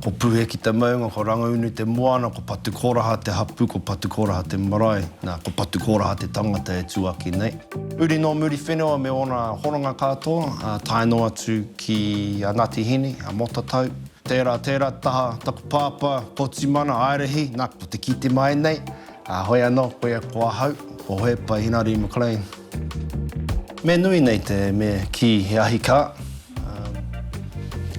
Ko Puhe ki te maunga, ko Rangaunu te moana, ko Patukoraha te hapū, ko Patukoraha te marae, nā, ko Patukoraha te tangata e tū ake nei. Huri nō Muriwhenua me ōna hononga katoa, ā, tae noa atu ki a Ngāti Hine, a Motatau. Tērā, tērā taha taku pāpā, Potimana, Aerehi, nā, ko te kite mai nei, Ā, hoi anō, koia ko ahau, ko Hohepa Hinari McLean. Me nui nei te me kī he ahi kā.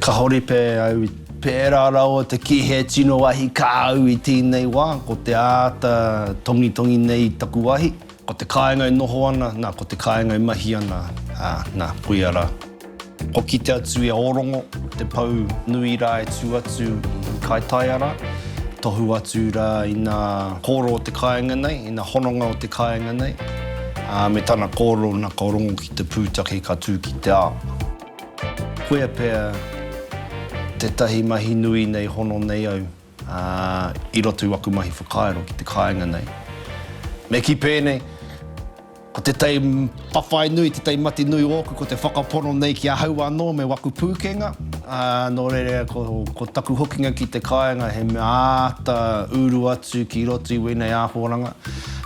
Ka horipe au i. Pērā rawa te kī he tino ahi kā au i tēnei wā, ko te āta tongitongi nei i taku ahi. Ko te kāinga e noho ana, nā, ko te kāinga e mahi ana, ā, nā, koia rā. Kua kite atu i a Ōrongo te pou nui rā e tū atu i Kaitaiara, tohu atu rā ina kōro o te kāinga nei, ina hononga o te kāinga nei, ā, me tana kōro nā ka rongo ki te pūtake ka tū ki te ao. Koia pea tētahi mahi nui nei hono nei au. Ā, i roto i waku mahi whakairo ki te kāinga nei, me kī pēnei, Ko te tei whawhai nui, te tei mati nui ōku, ko te whakapono nei ki ahau anō me waku pūkenga, ā, nō reira ko, ko taku hokinga ki te kāinga he mea āta uru atu ki roto i wēnei ākoranga.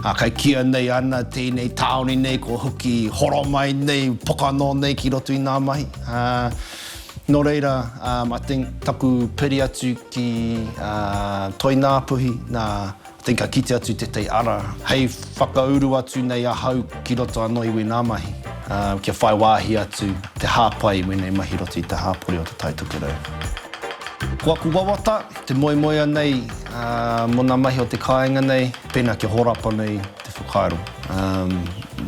Ā, kei kīa nei ana tēnei tāone nei kua hoki horomai nei, pokano nei ki roto i ngā mahi. Ā. Nō reira, I think taku piri atu ki Toināpuhi, nā, I think ka kite atu tētahi ara hei whakauru atu nei ahau ki roto anō i wēnā mahi, kia whai wāhi atu te hāpai i wēnei mahi i roto i te hāpori o Te Tai Tokerau. Ko aku wawata, te moemoea nei mō ngā mahi o te kāinga nei, pēnā kia horapa nei te whakaaro.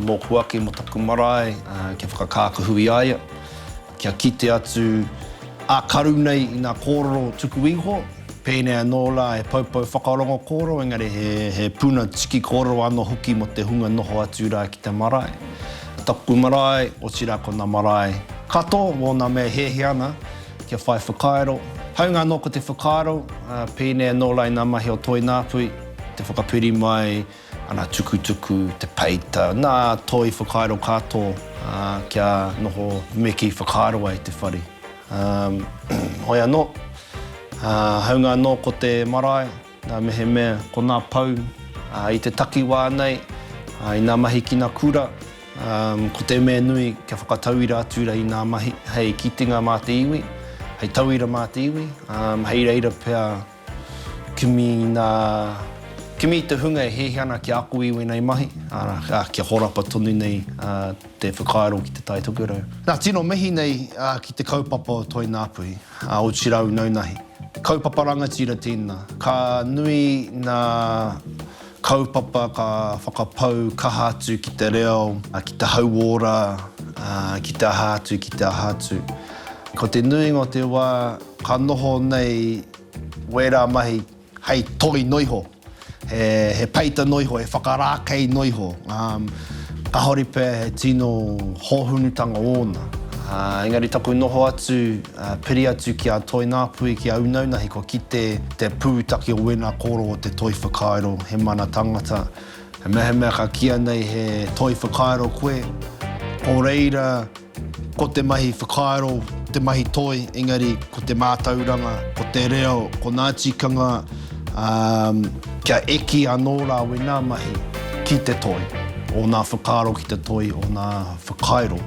Mōku ake mō taku marae, kia whakakākahu i a ia. Kia kite atu a Karu nei i nga kororo tuku iho, pēnei anō la he poupou whakarongo kōrero engari he puna tiki kōrero ano hoki mo te hunga noho atu ra ki te marae. Taku marae, otira ko na marae kato mo na mea e heahea ana kia whai whakairo. Haunga ano ko te whakairo, pēnei anō la i na mahi o Toināpui, te whakapiri mai, Ana tukutuku, te peita, nā toi whakairo kato kia noho me ki whakairo ai te whare. Hoi anō, haunga anō ko te marae, nā mehemea ko nā pou i te takiwā nei, i nā mahi ki nā kura, ko te mea nui kia whakatauira atu i nā mahi hei kitenga mā te iwi, hei tauira mā te iwi, hei reira pea Kimi nā, kimi i te hunga e hehe ana kia ako i wēnei mahi, arā, kia horapa tonu nei te whakaaro ki te Tai Tokerau. Nā, tino mihi nei ki te kaupapa o Toi Ngāpuhi, a Oti Rau Naunahi. Kaupapa rangatira tēnā, ka nui ngā Kaupapa ka whakapau kaha atu ki te reo, ki te hauora, ki te aha atu, ki te aha atu. Ko te nuinga o te wā ka noho nei wērā mahi hei toi noa iho, he peita noa iho, he whakarākei noa iho, kāore pea he tino hōhunutanga ōna. Engari taku noho atu Piri atu ki a Toinapui, ki a Unaunahi kua kite te pūtake o wēnā kōrō o te toi whakairo, he mana tangata. He mea he mea ka kīa nei he toi whakairo koe, o reira ko te mahi whakairo te mahi toi, engari ko te mātauranga, ko te reo, ko nā tikanga kia eki anō rā wēnā mahi ki te toi, ōnā whakairo ki te toi, ōnā whakairo.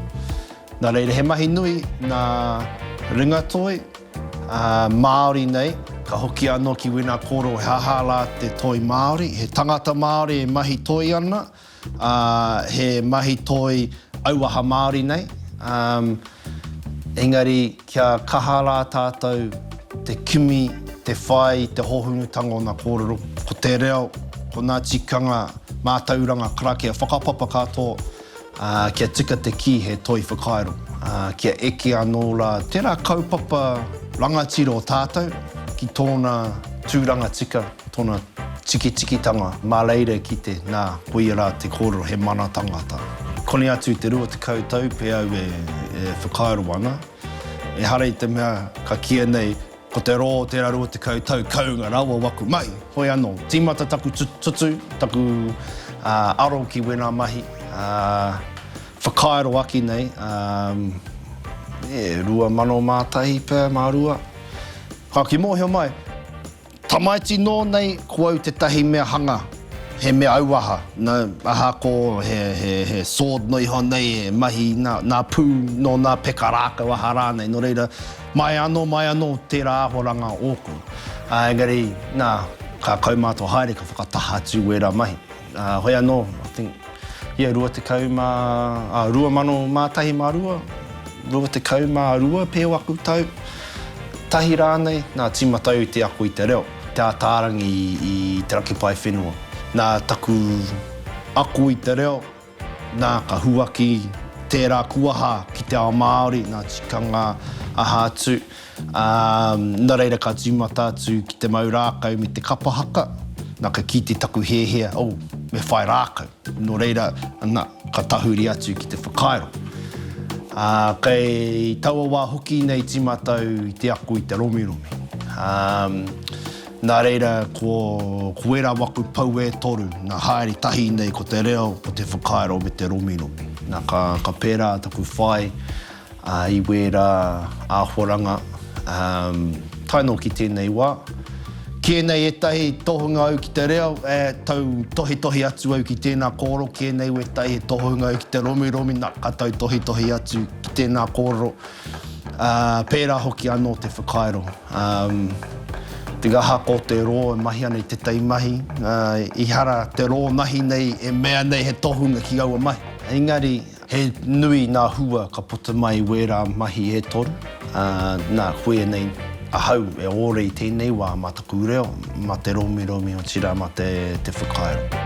Nā reira, he mahi nui nā Ringatoi, ā, Māori nei. Ka hoki anō ki wēnā kōrero he aha rā te toi Māori. He tangata Māori e mahi toi ana, ā, he mahi toi auaha Māori nei. Ā, engari kia kaha rā tātou te kimi, te whai i te hōhunutanga o nā kōrero, ko te reo, ko nā tikanga mātauranga karakia whakapapa katoa. Ā, kia tika te kī he toi whakairo, ā, kia eke anō rā tērā kaupapa rangatira o tātou ki tōna tūranga tika, tōna tikitikitanga mā reira ki te, nā, koia rā te kōrero, he mana tangata. Koni atu i te rua tekau tau pea au e whakairo ana, ehara i te mea ka kīia nei, Ko te rō o tērā 20 tau kounga rawa waku mahi, hoi anō, tīmata taku tutu, taku aro ki wēnā mahi, whakairo aki nei, e, 2001 pea mā rua. Ka ki mōhio mai, tamaiti nō nei ko au tētahi mea hanga, he mea auaha, nō, aha ko he, he, he sword noa iho nei e mahi nā, nā pū, nō nā peka rākau aha rānei, nō reira, Mai anō, mai anō tērā āhoranga ōku. Ā, engari, nā, ka kaumātua haere, ka whakataha atu wērā mahi. Ā, hoi anō, I think, ia 20, ā, 2001 mā rua, 22 pea o aku tau, tahi rānei, nā, tīmata au i te ako i te reo, te ātārangi i te raki pae whenua. Nā taku ako i te reo. Nā, ka huaki tērā kuaha ki te ao Māori, ngā tikanga aha atu, ā, nā reira ka tīmata atu ki te mau rākau me te kapa haka, nā, ka kī te taku hēhea, oh, me whai rākau. Nō reira, nā, ka tahuri atu ki te whakairo. Ā, kei taua wā hoki nei tīmata au i te ako i te romiromi. Ā, Nā reira, ko, ko ērā waku pou e toru, nā, haere tahi nei ko te reo, ko te whakairo me te romiromi. Nā, ka, ka pērā taku whai ā, i wērā āhoranga, um, tae noa ki tēnei wā. Kē nei ētahi tohunga au ki te reo, ē, tautohetohe atu au ki tēnā kōrero, kē nei wētahi he tohunga au ki te romiromi, nā, ka tautohetohe atu ki tēnā kōrero. Ā, pērā hoki anō te whakairo. Ā, te ngahaka o te rō e mahi ana i tētahi mahi, ā, ehara te rō mahi nei e mea nei he tohunga ki aua mahi. Engari, he nui ngā hua ka puta mai i wērā mahi e toru. Ā, nā, koianei ahau e ōrei tēnei wā mā taku reo, mā te romiromi, otirā mā te whakairo.